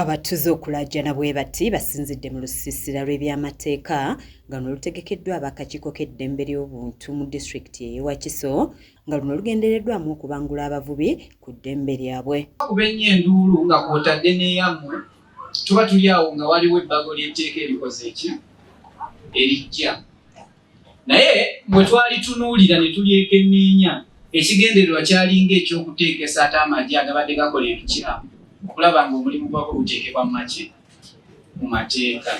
Abatuze okulaajana bwebati basinzidde mu lusiisira lw'ebyamateeka nga luno lutegekeddwa ab'akakiiko k'eddembe ly'obuntu mu disitulikiti ey'e Wakiso nga luno lugendereddwamu okubangula abavubi ku ddembe lyabwe. Bakuba ennyo enduulu nga kw'otadde n'eyammwe tuba tuli awo nga waliwo ebbago ly'etteeka erikoze ki? Erijja. naye bwe twalitunuulira ne tulyekenneenya ekigendererwa kyalinga eky'okuteekesa ate amagye agabadde gakola ebikyamu okulaba ng'omulimu gwako guteekebwa mu makye mu mateeka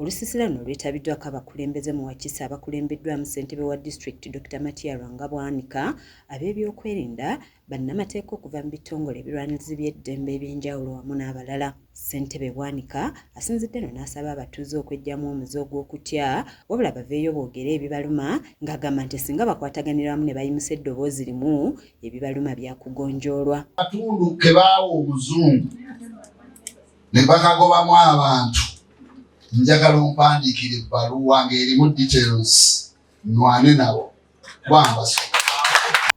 Olusisira luno lwetabiddwako abakulembeze mu Wakiso abakulembeddwamu ssentebe wa disitulikiti Dr. Matia Rwangabwanika, ab'ebyokwerinda, bannamateeka okuva mu bitongole ebirwanirizi by'eddembe eby'enjawulo wamu n'abalala ssentebe bwanika asinzidde no n'asaba abatuuze okwejjamu omuze ogw'okutya wabula baveeyo boogere ebibaluma ng'agamba nti singa bakwataganira wamu ne bayimusa eddoboozi limu ebibaluma byakugonjoolwa katundu ke baawa omuzungu ne bakagobamu abantu njagala ompandiikira ebbaluwa ng'erimu details nwane nabo bwambaso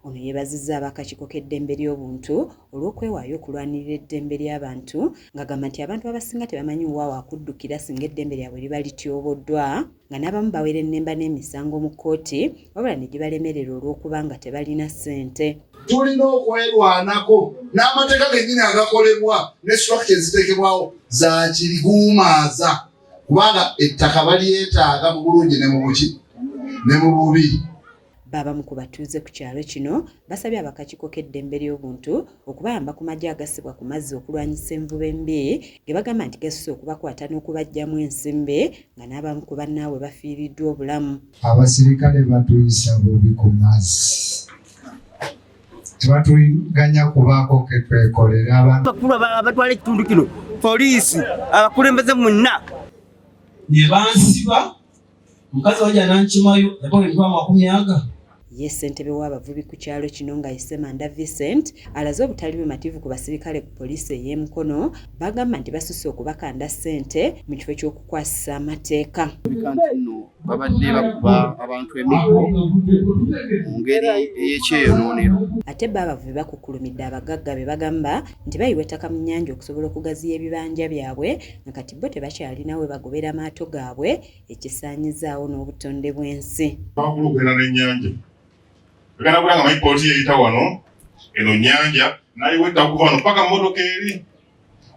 ono yeebazizza abakakiiko k'eddembe ly'obuntu olw'okwewaayo okulwanirira eddembe ly'abantu ng'agamba nti abantu abasinga tebamanyi wa wakuddukira singa eddembe lyabwe liba lityoboddwa nga n'abamu bawerennemba n'emisango mu kkooti wabula ne gibalemerera olw'okuba nga tebalina ssente tulina okwerwanako n'amateeka gennyini agakolebwa ne structure eziteekebwawo za kiriguumaaza kubanga ettaka balyetaaga mu bulungi ne mu buki ne mu bubi Baabamu ku batuuze ku kyalo kino basabye abakakiiko k'eddembe ly'obuntu okubayamba ku magye agasibwa ku mazzi okulwanyisa envuba embi ge bagamba nti gasusse okubakwata n'okubaggyamu ensimbe nga n'abamu ku bannaabwe bafiiriddwa obulamu. Abasirikale batuyisa bubi ku mazzi. tebatuganya kubaako ketwekolera abakulu abatwala ekitundu kino poliisi abakulembeze munna ne bansiba mukazi wange anankimayo yakoleddwa amakumi aga ye ssentebe w'abavubi ku kyalo kino nga yesemanda vincent alaze obutali bumativu ku basirikale ku poliisi ey'emukono bagamba nti basusse okubakanda ssente mu kifo ky'okukwasisa amateeka babadde bakuba abantu emiggo mu ngeri ey'ekyeyonoonero ate bo abavubi bakukkulumidde abagagga be bagamba nti bayiwa ettaka mu nnyanja okusobola okugaziya ebibanja byabwe nga kati bo tebakyalina we bagobera maato gaabwe ekisaanyizaawo n'obutonde bw'ensi bakulugera n'ennyanja agala kulanga mayipooti yeyita wano eno nnyanja nayiwa ettaka okuva wano paka mmotoka eri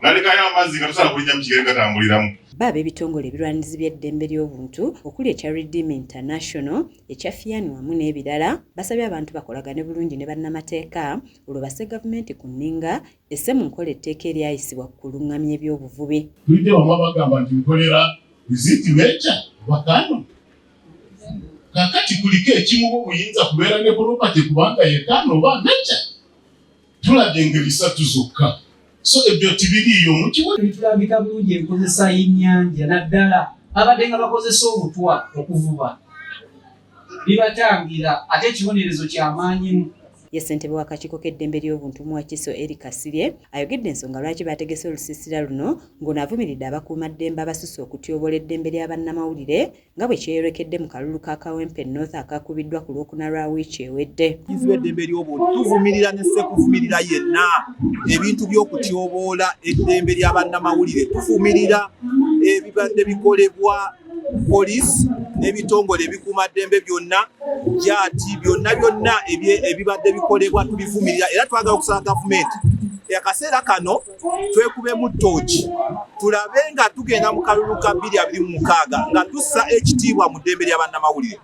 nalekayo amazzi nga tosobola kulinnya mu kigere gatambuliramu Bo ab'ebitongole ebirwanirizi by'eddembe ly'obuntu okuli ekya Redeem International, ekya FIAN wamu n'ebirala basabye abantu bakolagane bulungi ne bannamateeka olwo basse gavumenti ku nninga esse mu nkola etteeka eryayisibwa ku kulung'amya ebyobuvubi. Tujja wamu abagamba nti nkolera Visit Nature Bakano kakati kuliko ekimuwa obuyinza kubeera ne property kubanga yekano oba nature tulabye engeri satu zokka so ebyo tibiriiyo mukiwetulambika bulungi enkozesa y'ennyanja naddala abadde nga bakozesa obutwa okuvuba bibatangira ate ekibonerezo kyamaanyimu ye ssentebe w'akakiiko k'eddembe ly'obuntu mu wakiso eri kasirye ayogedde ensonga lwaki baategese olusiisira luno ng'ono avumiridde abakuuma ddembe abasusse okutyobola eddembe lya bannamawulire nga bwe kyeyolekedde mu kalulu ka Kawempe North akaakubiddwa ku lwokuna lwa wiiki ewedde. Kizibwa eddembe ly'obuntu tuvumirira ne ssekuvumirira yenna ebintu by'okutyoboola eddembe lya bannamawulire tuvumirira ebibadde bikolebwa poliisi n'ebitongole ebikuuma ddembe byonna gyati byonna byonna ebibadde bikolebwa tubivumirira era twagala okusaba gavumenti akaseera kano twekubemu ttooki tulabe nga tugenda mu kalulu ka bbiri abiri mu mukaaga nga tussa ekitiibwa mu ddembe lya bannamawulire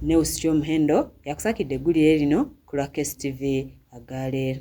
neusityo muhendo yakusakidde eggulire lino ku lwa KSTV agaaleero